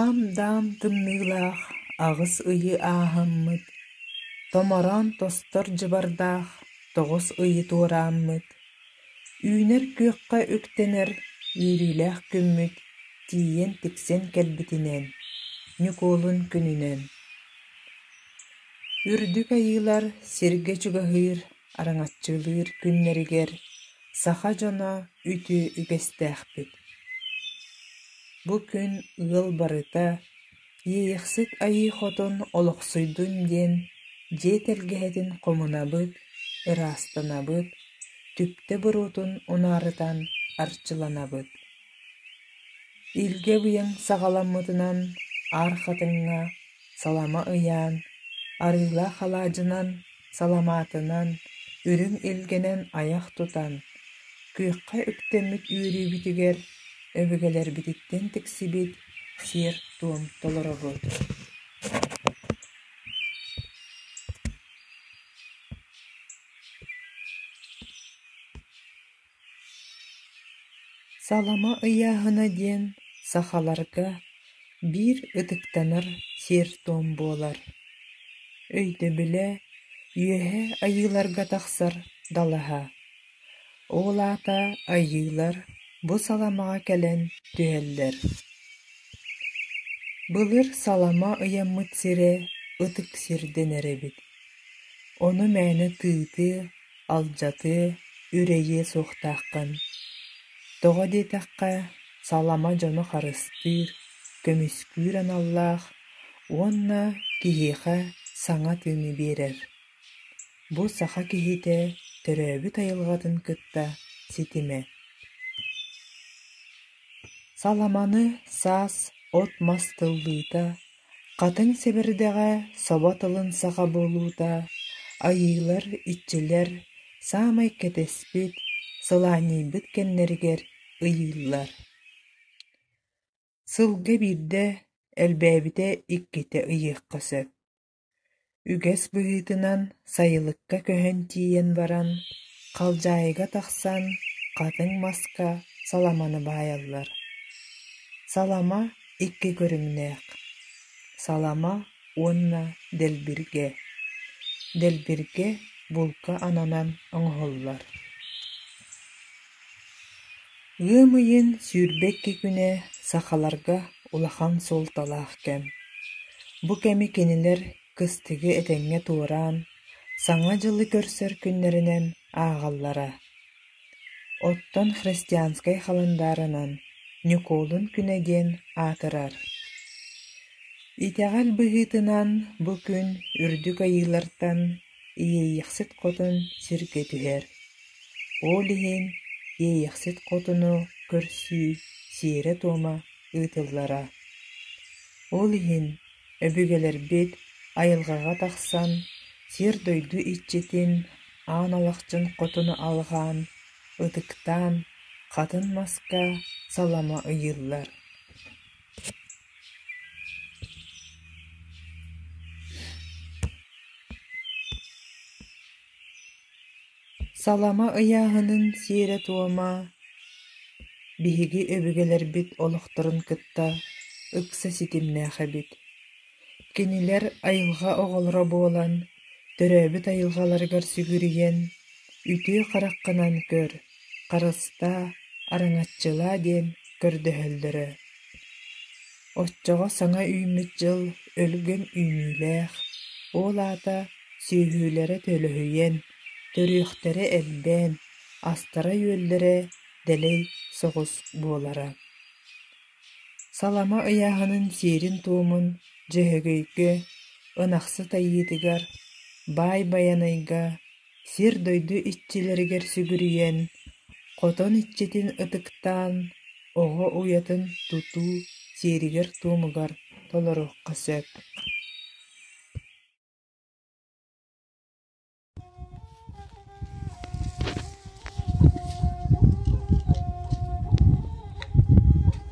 Аам-даам тымныылаах аҕыс ыйы ааһаммыт, томороон тостор дьыбардаах тоҕус ыйы туорааммыт, үүнэр күөххэ үктэнэр үөрүүлээх күммүт тиийэн тиксэн кэлбитинэн, Ньукуолун күнүнэн. Үрдүк айыылар сиргэ чугаһыыр, араҥаччылыыр күннэригэр Саха дьоно үтүө үгэстээхпит. Бу күн ыал барыта «Иэйэхсит Айыы Хотун олохсуйдун» диэн дьиэ тэлгэһэтин хомунабыт, ыраастанабыт, түптэ боруотун унаарытан арчыланабыт. Илгэ быйаҥ саҕаламмытынан аар хатыҥҥа салама ыйаан, арыылаах алаадьынан, саламаатынан, үрүҥ илгэнэн айах тутан, күөххэ үктэммит үөрүүбүтүгэр өбүгэлэрбититтэн тиксибит сиэр-туом толоробут Салама ыйааһына диэн сахаларга биир ытыктанар сиэр-туом буолар. Өйдөбүлэ Үөһээ Айыыларга тахсар далаһа. Ол аата Айыылар бу саламаҕа кэлэн түһэллэр. Былыр салама ыйаммыт сирэ ытык сир дэнэр эбит. Ону мээнэ тыытыы, Алдьатыы, үрэйиэ суохтааххын. Тоҕо диэтэххэ, салама дьону харыстыыр, көмүскүүр аналлаах уонна киһиэхэ саҥа тыыны биэрэр. Бу саха киһитэ төрөөбүт айылҕатын кытта ситимэ. Саламаны саас от-мас тыллыыта Хатыҥ сэбирдэҕэ собо тылын саха буолуута, айыылар, иччилэр саамай кэтэспит, сылаанньыйбыт кэмнэригэр ыйыыллар Сылга биирдэ, элбээбитэ иккитэ ыйыахха сөп үгэс быһыытынан сайылыкка көһөн тиийэн баран, халдьаайыга тахсан, хатыҥ маска саламаны баайаллар. Салама икки көрүҥнээх – салама уонна дэлбиргэ. Дэлбиргэ булка ананан оҥоһуллар Ыам ыйын сүүрбэкки күнэ сахаларга улахан суолталаах кэм. Бу кэми кинилэр кыстыгы этэҥҥэ туораан, Саҥа дьылы көрсөр күннэринэн ааҕаллара. Оттон христианскай халандааранан Ньукуолун күнэ диэн аатырар. Итэҕэл быһыытынан бу күн үрдүк айыылартан Иэйиэхсит хотун сиргэ түһэр, ол иһин Иэйиэхсит хотуну көрсүү сиэрэ-туома ыытыллара. Ол иһин өбүгэлэрбит айылҕаҕа тахсан сир-дойду иччитин, аан алахчын хотуну алҕаан, ытыктаан, хатын маска салама ыйыыллар Салама ыйааһынын сиэрэ-туома биһиги өбүгэлэрбит олохторун кытта ыкса ситимнээх эбит. Кинилэр айылҕа оҕолоро буолан, төрөөбүт айылҕаларыгар сүгүрүйэн, үтүө хараххынан көр, Харыстаа, араҥаччылаа диэн көрдөһөллөрө. Оччоҕо саҥа үүммүт дьыл өлгөм үүнүүлээх, ол аата сүөһүлэрэ төлөһүйэн, төрүөхтэрэ элбээн, астара-үөллэрэ дэлэй соҕус буолара. Салама ыйааһынын сиэрин-туомун Дьөһөгөйгө, Ынахсыт Айыытыгар, Баай Байанайга, сир-дойду иччилэригэр сүгүрүйэн, хотон иччитин ытыктаан, оҕо уйатын тутуу сиэригэр-туомугар толоруохха сөп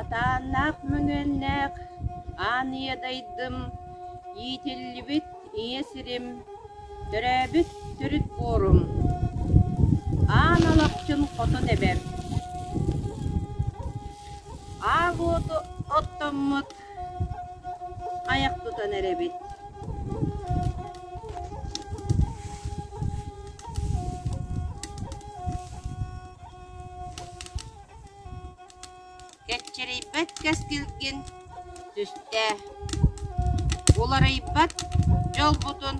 Атааннаах мөҥүөннээх аан ийэ дайдым иитиллибит Ийэ сирим, төрөөбүт төрүт буорум, аан алахчын хоту тэбэр. Аар уоту оттоммут, хайах тутан эрэбит. Кэччирийбэт кэскилгин түстээ, уларыйбат дьолбутун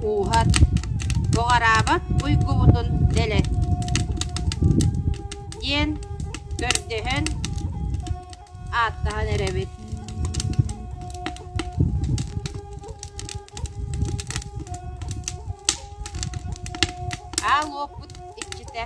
ууһат, буҕараабат уйгубутун дэлэт, диэн көрдөһөн ааттаһан эрэбит. Аал уоппут иччитэ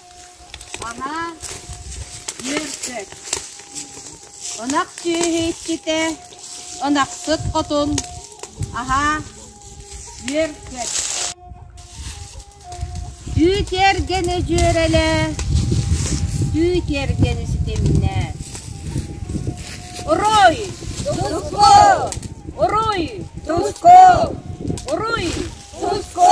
Анаан үөрбэт, ынах сүөһүччүтэ ынахсыт хотун аһа үөрбэт, дүү тиэргэни дьүөрэлээ, дүү тиэргэни ситимнээ. Уруй, туску! Уруй, туску! Уруй, туску!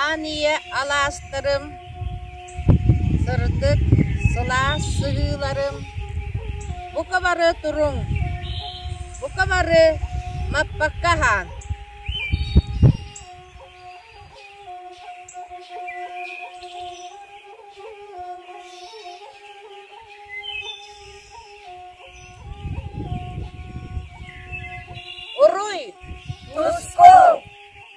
Аан ийэ алаастарым, сырдык, сылаас сыһыыларым, бука бары туруҥ, бука бары Маппакка аһаан Уруй! Туску!